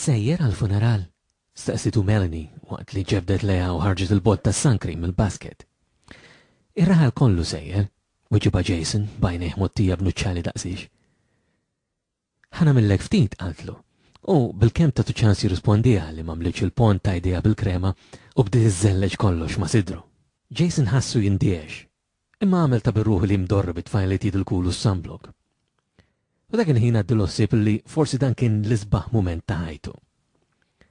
Sejjer għall-funeral? staqsitu Melanie waqt li ġebdet lejha u ħarġet il-bott tas-sankri mill-basket. Ir-raħal kollu sejjer, weġibha Jason b'għajnejh mgħottija b'nuċċali daqsix. Ħa nagħmillek ftit, qaltlu. U bilkemm tatu ċans jirrispondiha li m'għamlitx il-pont ta' idejha bil-krema u bdiet iżżelleġ kollox ma' sidru. Jason ħassu jindiegħex, imma għamel ta' bir-ruħu li mdorr bit-tfajla li tiedu l-kulu s-sunblock. U dak il-ħin għaddilu ħsieb li forsi dan kien l-isbaħ mument ta' ħajtu.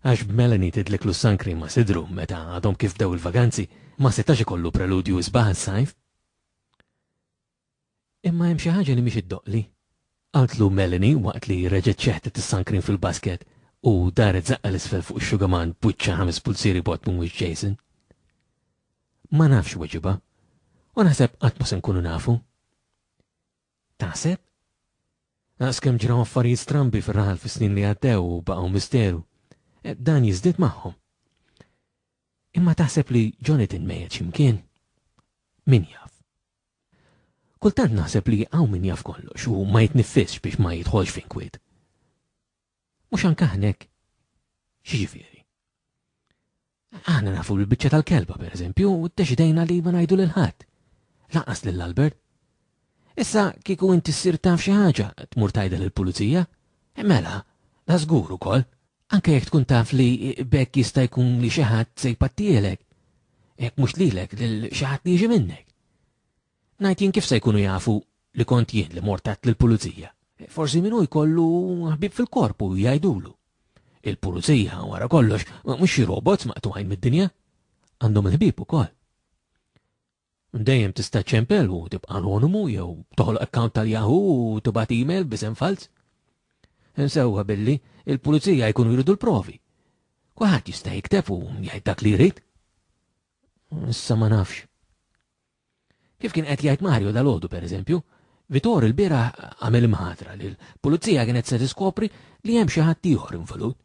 Għax b'Melanie tidliklu s-suncream ma' sidru meta għadhom kif bdew il-vaganzi, ma setax ikollu preludju isbaħ għas-sajf. Imma hemm xi ħaġa li mhix iddoqqli, qaltlu Melanie waqt li reġgħet ċeħtet is-sankrin fil-basket u daret żaqqa 'l isfel fuq ix-xugaman b'wiċċha ħames pulzieri bogħod minn wiċċ Jason. Ma nafx, weġibha. U naħseb qatt ma se nkunu nafu. Taħseb? Naqs kemm ġraw affarijiet strambi fir-raħal fis-snin li għaddew u baqgħu misteru. E, dan jiżdied magħhom. Imma taħseb li Jonathan mejjed x'imkien? Min jaf? Kultant naħseb li hawn min jaf kollox u ma jitniffisx biex ma jidħolx f'inkwiet. Mhux anke aħna hekk? X'jiġifieri? Aħna nafu l-biċċa tal-kelba, pereżempju, u ddeċidejna li ma ngħidu lil ħadd. Lanqas lil Albert. Issa kieku inti ssir taf xi ħaġa, tmur tgħidha lill-pulizija? Mela, la żgur ukoll. Anke jekk tkun taf li b'hekk jista' jkun li xi ħadd se jpattielek, jekk mhux lilek lil xi ħadd li jiġi minnek. Ngħid jien kif se jkunu jafu li kont jien li mort għadt lill-pulizija? Forsi min hu jkollu ħbieb fil-korp u jgħidulu. Il-pulizija wara kollox mhux xi robots maqtugħin mid-dinja. Għandhom il-ħbieb ukoll. Dejjem tista' ċċempel u tibqa' anonimu jew toħloq account tal-Yahoo u tibgħat email b'isem falz. Imsewwa billi l-pulizija jkunu jridu l-provi. Kulħadd jista' jikteb u jgħid dak li jrid. Issa ma nafx. Kif kien qed jgħid Mario dalgħodu pereżempju, Vitor il-bieraħ għamel imħatra li l-pulizija kienet se tiskopri li hemm xi ħadd ieħor involut.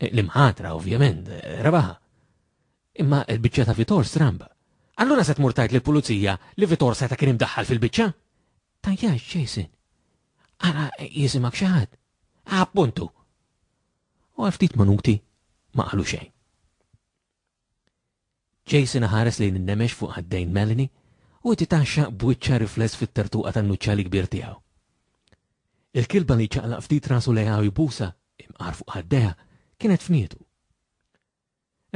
L-imħatra ovvjament rebaħa. Imma l-biċċa ta' Vitor stramba. Allura se tmur tgħid lill-pulizija li Vitor seta' kien imdaħħal fil-biċċa? Tajjax, Jason. Ara jisimgħek xi ħadd. Appuntu! U għal ftit minuti ma qalu xejn. Jason ħares lejn in-nemex fuq ħaddejn Melanie u qed itaxxa b'wiċċa rifless fit-tertuqa tan-nuċċali kbir tiegħu. Il-kilba li ċaqlaq ftit rasu lejha u jbusa, imqar fuq ħaddejha, kienet fnietu.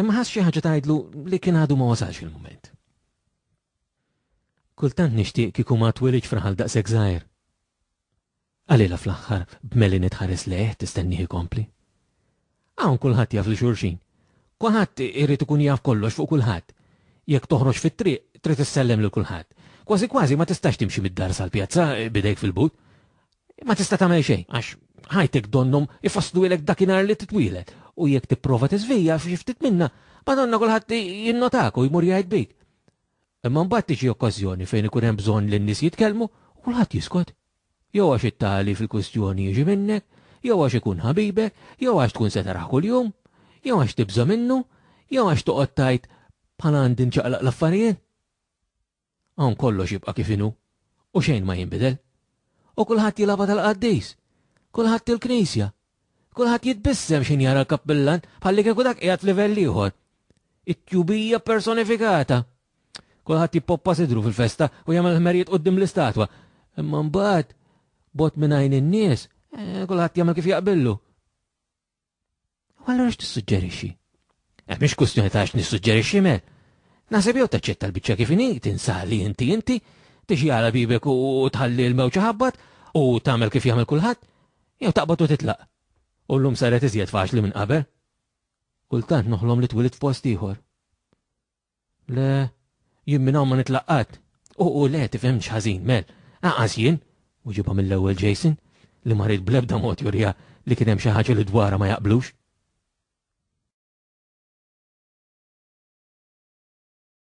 Imma ħass xi ħaġa tgħidlu li kien għadu ma wasalx il-mument. Kultant nixtieq kieku ma twilidx f'raħal daqshekk żgħir. Qalilha fl-aħħar b'meli nitħares lejh tistennih ikompli. Hawn kulħadd jaf lil xulxin. Kulħadd irid ikun jaf kollox fuq kulħadd. Jekk toħroġ fit-triq, trid issellem lil kulħadd. Kważi kważi ma tistax timxi mid-dar sal-pjazza bidejk fil-but. Imma tista' tagħmel xejn għax ħajtek donnhom ifassluhielek dakinhar li titwieled u jekk tipprova tiżvija f'xi ftit minnha, Madonna kulħadd jinnotak u jmur jgħid bik. Imma mbagħad tiġi okkażjoni fejn ikun hemm bżonn li n-nies jitkellmu u kulħadd jiskot. Jew għax it-tali fil-kwistjoni jiġi minnek, jew għax ikun ħabibek, jew għax tkun se tarah kuljum, jew għax tibża' minnu, jew għax toqgħod tgħid bħala għandi nċaqlaq l-affarijiet. Hawn kollox jibqa' kif inhu, u xejn ma jinbidel. U kulħadd jilgħabha tal-qaddis. Kulħadd il-Knisja. Kulħadd jitbissem x'ħin jara l-kappillan, bħalli kieku dak qiegħed f'livell ieħor. It-tjubija personifikata. Kulħadd jippoppa sidru fil-festa u jagħmel ħmerijiet quddiem l-istatwa. Imma mbagħad, bogħod minn għajn in-nies, kulħadd jagħmel kif jaqbillu. U allura x'tissuġġerixxi? Eh, mhix kwistjoni ta' x'nissuġġerixxi me. Naħseb jew taċċetta l-biċċa kif inhi, tinsaħ li inti inti, tixi għala bibek u tħalli l-mewġ ħabbat u tagħmel kif jagħmel kulħadd, jew taqbad u titlaq. U llum saret iżjed faċli minn qabel. Kultant noħlom li twilit f'post ieħor. Le, jien minn hawn ma nitlaq qatt. U, u le, tifhemx ħażin, Mel. Anqas jien, weġibha mill-ewwel Jason, li ma ried bl-ebda mod juriha li kien hemm xi ħaġa li dwarha ma jaqblux.